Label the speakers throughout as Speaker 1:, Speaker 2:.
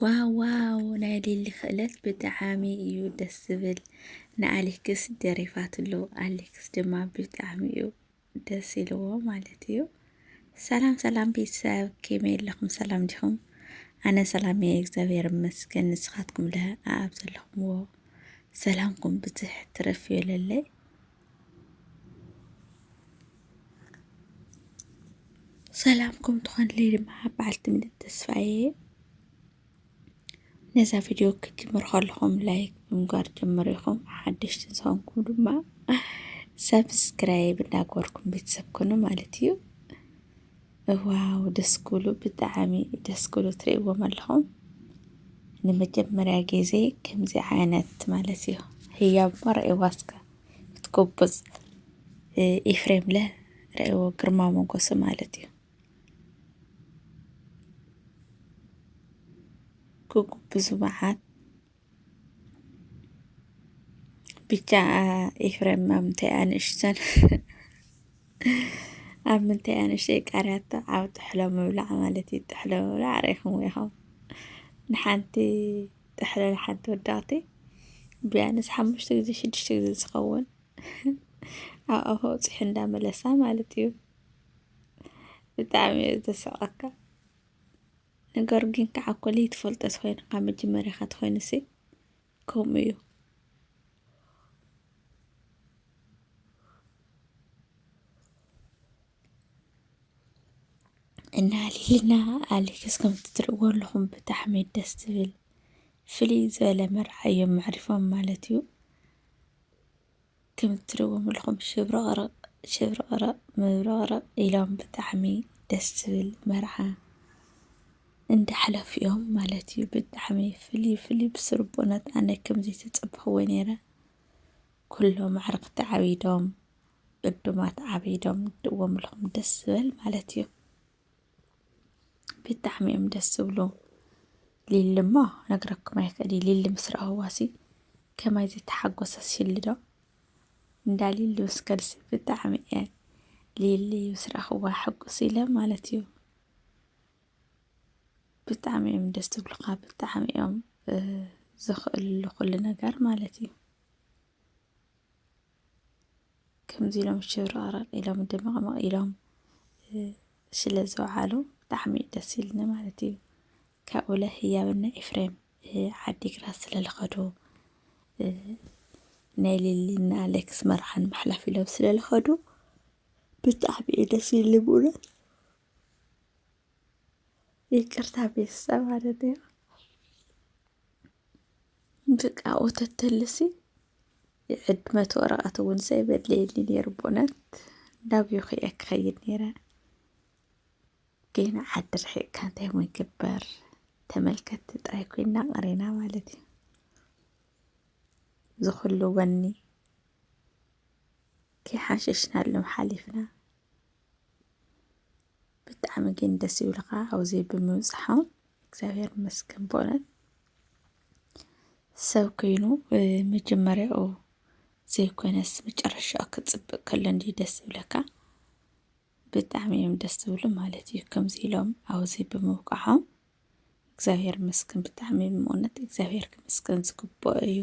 Speaker 1: ዋው ዋው ናይ ሊሊ ክእለት ብጣዕሚ እዩ ደስ ዝብል ንኣሌክስ ደሪፋትሉ ኣሌክስ ድማ ብጣዕሚ እዩ ደስ ኢልዎ ማለት እዩ ሰላም ሰላም ቤተሰብ ከመይ ኣለኹም ሰላም ዲኹም ኣነ ሰላም እየ እግዚኣብሔር ይመስገን ንስኻትኩም ለ ኣብ ዘለኹምዎ ሰላምኩም ብዝሕ ትረፍ ይበለለይ ሰላምኩም ትኾንለይ ድማ በዓልቲ ምልእቲ ተስፋ እየ ነዛ ቪድዮ ክትጅምሩ ከለኹም ላይክ ብምግባር ጀምሩ ኢኹም ሓደሽቲ ዝኾንኩም ድማ ሰብስክራይብ እናገበርኩም ቤተሰብ ኮኑ ማለት እዩ እዋው ደስ ክብሉ ብጣዕሚ ደስ ክብሉ ትርእይዎም ኣለኹም ንመጀመርያ ግዜ ከምዚ ዓይነት ማለት እዩ ህያብ እሞ ረኣይዋ እስከ ክትጎብዝ ኤፍሬም ለ ረኣይዎ ግርማ ሞገሱ ማለት እዩ ክጉብዙ መዓት ብቻ ኤፍሬም ኣብ ምንታይ ኣንእሽተን ኣብ ምንታይ ኣንእሽተይ ቃርያቶ ኣብ ጥሕሎ ምብላዕ ማለት እዩ። ጥሕሎ ምብላዕ ርኢኹም ኢኹም ንሓንቲ ጥሕሎ ንሓንቲ ወዳቕቲ ቢያንስ ሓሙሽተ ግዜ ሽዱሽተ ግዜ ዝኸውን ኣብ ኣፎ ውፅሒ እንዳመለሳ ማለት እዩ። ብጣዕሚ እዩ ዘስቀካ። ነገሩ ግን ከዓ እኮ ለይትፈልጦ ተኾይኑ ካብ መጀመርያኻ ተኾይኑሲ ከምኡ እዩ። እና ሊልና ኣሌክስ ከምቲ ትርእዎ ኣለኹም ብጣዕሚ ደስ ትብል ፍልይ ዝበለ መርዓ እዮም መዕሪፎም ማለት እዩ። ክምቲ ትሪእዎም ኣለኹም ሽብረቕረቕ ሽብረቕረቕ ምብረቕረቕ ኢሎም ብጣዕሚ ደስ ዝብል መርዓ እንዳሕለፉ እዮም ማለት እዩ። ብጣዕሚ ፍልይ ፍልይ ብስሩ ቦነት ኣነ ከምዚ ተጸበኽዎ ነይረ። ኩሎም ኣዕርኽቲ ዓቢዶም ዕዱማት ዓቢዶም ድዎም ኣለኹም ደስ ዝብል ማለት እዩ። ብጣዕሚ እዮም ደስ ዝብሉ ሊሊ እሞ ነግረኩም ኣይክእል ሊሊ ምስ ረኣዋሲ ከማይ ዝተሓጎሰ ሽሊ ዶ እንዳ ሊሊ ምስ ከድሲ ብጣዕሚ እየ ሊሊ ምስ ረኣኽዋ ሕጉስ ኢለ ማለት እዩ ብጣዕሚ እዮም ደስ ዝብሉኻ ብጣዕሚ እዮም ዝኽእልሉ ኩሉ ነገር ማለት እዩ ከምዚ ኢሎም ሽብረቕረቕ ኢሎም ድምቕምቕ ኢሎም ስለ ዝወዓሉ ብጣዕሚ እዩ ደስ ኢሉኒ ማለት እዩ። ካብኡ ለ ህያብና ኤፍሬም ዓዲግራት ስለ ዝኸዱ ናይ ሊሊና ኣሌክስ መርዓን መሕለፍ ኢሎም ስለ ዝኸዱ ብጣዕሚ እዩ ደስ ኢሉኒ ብእውነት። ይቅርታ ቤተሰብ ማለት እዩ። ብቃ ወተተልሲ የዕድመት ወረቐት እውን ዘይበለየኒ ነይሩ ብእውነት እንዳብዩኺ እየ ክኸይድ ነይረ ግን ዓዲ ርሒቕካ እንታይ ሞ ይግበር ተመልከትቲ ጥራይ ኮይና ቀሪና ማለት እዩ ዝኹሉ ወኒ ከይሓሸሽናሎም ሓሊፍና ብጣዕሚ ግን ደስ ይብልካ ኣብዚ ብምብፅሖም እግዚኣብሔር ይመስገን በእውነት ሰብ ኮይኑ መጀመሪያኡ ዘይኮነስ መጨረሻኡ ክፅብቅ ከሎ እንዲዩ ደስ ዝብለካ ብጣዕሚ እዮም ደስ ዝብሉ ማለት እዩ ከምዚ ኢሎም ኣብዚ ብምብቅሖም እግዚኣብሔር ይመስገን ብጣዕሚ ብእውነት እግዚኣብሔር ክመስገን ዝግብኦ እዩ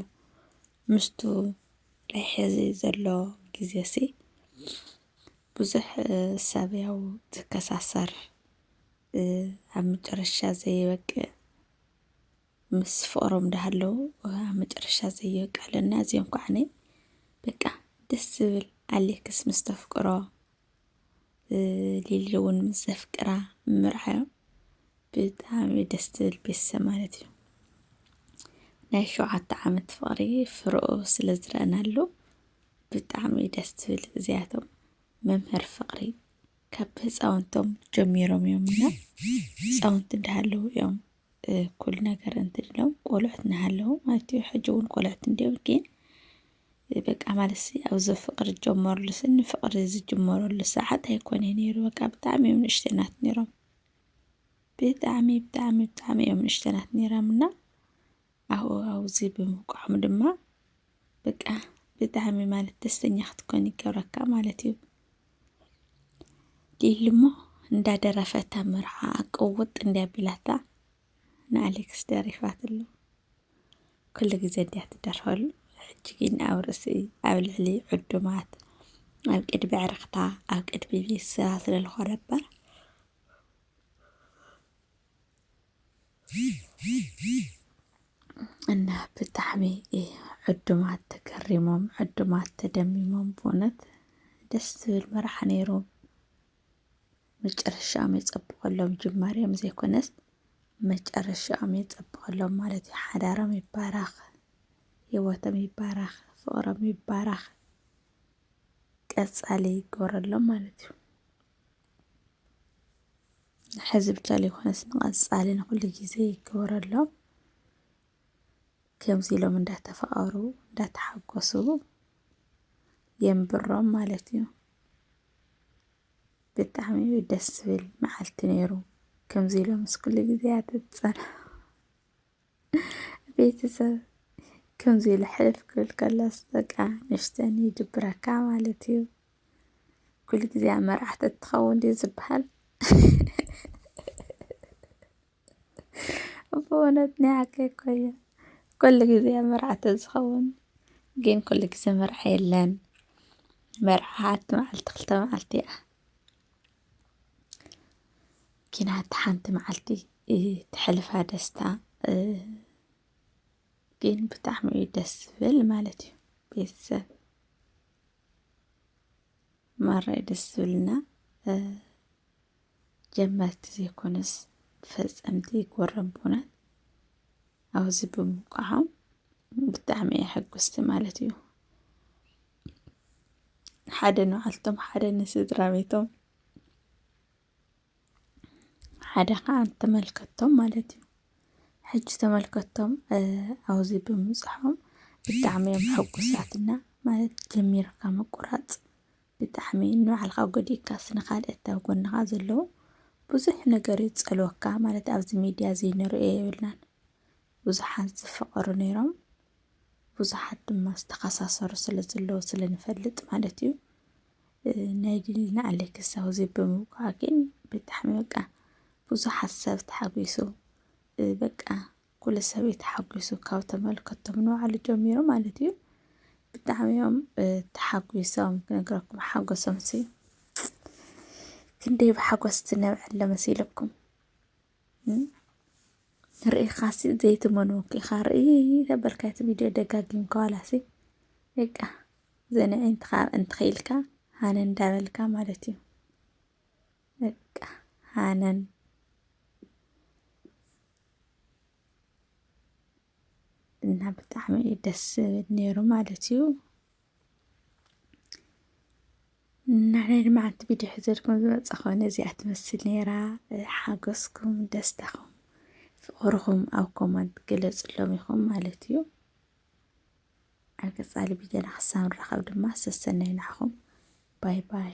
Speaker 1: ምስቱ ናይ ሕዚ ዘሎ ጊዜ ሲ ብዙሕ ሰብ ያው ዝከሳሰር ኣብ መጨረሻ ዘይበቅዕ ምስ ፍቕሮም ዳሃለው ኣብ መጨረሻ ዘይበቅዕ ኣለና እዚኦም ከዓ እኔ በቃ ደስ ዝብል ኣሌክስ ምስ ተፍቅሮ ሊሊ እውን ምስ ዘፍቅራ ምርዓዮም ብጣዕሚ ደስ ትብል ቤተሰብ ማለት እዩ ናይ ሸውዓተ ዓመት ፍቕሪ ፍርኦ ስለ ዝረአናሉ ብጣዕሚ ደስ ትብል እዚኣቶም መምህር ፍቕሪ ካብ ህፃውንቶም ጀሚሮም እዮም እና ህፃውንቲ እንዳሃለዉ እዮም እኩል ነገር እንትድሎም ቆልዑት እናሃለዉ ማለት እዩ ሕጂ እውን ቆልዑት እንድዮም ግን በቃ ማለትሲ ኣብዚ ፍቕሪ ዝጀመሩሉ ስኒ ፍቕሪ ዝጅመረሉ ሰዓት ኣይኮነ ነይሩ በቃ ብጣዕሚ እዮም ንእሽተናት ነይሮም ብጣዕሚ ብጣዕሚ ብጣዕሚ እዮም ንእሽተናት ነይሮም እና ሃዋህው'ዚ ብምብቅዖም ድማ በቃ ብጣዕሚ ማለት ደስተኛ ክትኮን ይገብረካ ማለት እዩ። ሊሊሞ እንዳደረፈታ መርዓ ቅውጥ እንዲያ ቢላታ ንኣሌክስ ደሪፋትሉ ኩሉ ግዜ እንዲያ ትደርፈሉ ሕጂ ግን ኣብ ርእሲ ኣብ ልዕሊ ዕዱማት ኣብ ቅድሚ ዕረኽታ ኣብ ቅድሚ ቤት ስራ ስለዝኾነ እምበር እና ብጣዕሚ ዕዱማት ተገሪሞም ዕዱማት ተደሚሞም ብእውነት ደስ ዝብል መርዓ ነይሩ። መጨረሻኦም የፀብቐሎም ጅማሬኦም ዘይኮነስ መጨረሻኦም የፀብቐሎም ማለት እዩ። ሓዳሮም ይባረኽ፣ ህይወቶም ይባረኽ፣ ፍቕሮም ይባረኽ፣ ቀፃሊ ይገበረሎም ማለት እዩ። ሕዚ ብቻ ዘይኮነስ ንቐፃሊ ንኹሉ ግዜ ይገበረሎም። ከምዚ ኢሎም እንዳተፋቐሩ እንዳተሓጎሱ የንብሮም ማለት እዩ። ብጣዕሚ እዩ ደስ ዝብል መዓልቲ ነይሩ። ከምዚ ኢሎም ምስ ኩሉ ግዜ ኣትፀናኑ። ቤተሰብ ከምዚ ኢሉ ሕልፍ ክብል ከሎስ በቃ ንእሽተን ይድብረካ ማለት እዩ። ኩሉ ግዜ ኣብ መርዓ ተትኸውን ድዩ ዝበሃል? ብእውነት ናይ ሓቂ እኮ እዩ። ኩሉ ግዜ ኣብ መርዓ ተዝኸውን ግን ኩሉ ግዜ መርዓ የለን። መርዓ ሓንቲ መዓልቲ ክልተ መዓልቲ እያ። ኪናት ሓንቲ መዓልቲ ትሕልፋ ደስታ ግን ብጣዕሚ እዩ ደስ ዝብል ማለት እዩ ቤተሰብ ማራይ ደስ ዝብልና ጀመርቲ ዘይኮነስ ፈፀምቲ ጎረምቦናት ኣብዚ ብምውቃዖም ብጣዕሚ እየ ሕጉስቲ ማለት እዩ ሓደ ንባዕልቶም ሓደ ንስድራ ቤቶም ሓደ ከዓ ተመልከቶም ማለት እዩ። ሕጂ ተመልከቶም ኣብዚ ብምብፅሖም ብጣዕሚ እዮም ሕጉሳትና ማለት ጀሚርካ ምቁራፅ ብጣዕሚ ንባዕልኻ ጎዲእካስ ንኻልኦት ኣብ ጎንኻ ዘለዉ ብዙሕ ነገር እዩ ዝፀልወካ ማለት ኣብዚ ሚድያ ዘይንርእዮ የብልናን ብዙሓት ዝፈቐሩ ነይሮም ብዙሓት ድማ ዝተኸሳሰሩ ስለ ዘለዉ ስለ ንፈልጥ ማለት እዩ። ናይ ድልና ኣሌክስ ኣብዚ ብምውቃዕ ግን ብጣዕሚ በቃ ብዙሓት ሰብ ተሓጒሱ በቃ ኩሉ ሰብ እዩ ተሓጒሱ ካብ ተመልከቶም ንባዕሉ ጀሚሩ ማለት እዩ ብጣዕሚ እዮም ተሓጒሶም ክነግረኩም ሓጎሶም ሲ ክንደይ ብሓጎስ ትነብዐለ መሲለኩም ርእኻሲ ዘይትመንዎ ኪኻ ርኢ ተበልካ እቲ ቪድዮ ደጋጊምካ ዋላሲ በቃ ዘንዒ እንትኸኢልካ ሃነ እንዳበልካ ማለት እዩ። በቃ ሃነን እና ብጣዕሚ እዩ ደስ ዝብል ነይሩ ማለት እዩ። ናዓይ ድማ ሓንቲ ቪድዮ ሕዘልኩም ዝመፃኹ ነዚኣ ትመስል ነይራ። ሓጎስኩም፣ ደስታኹም፣ ፍቕርኹም ኣብ ኮመንት ግለፅሎም ኢኹም ማለት እዩ። ኣብ ቀፃሊ ቪድዮና ክሳብ ንራኸብ ድማ ሰሰናይ ናዕኹም ባይ ባይ።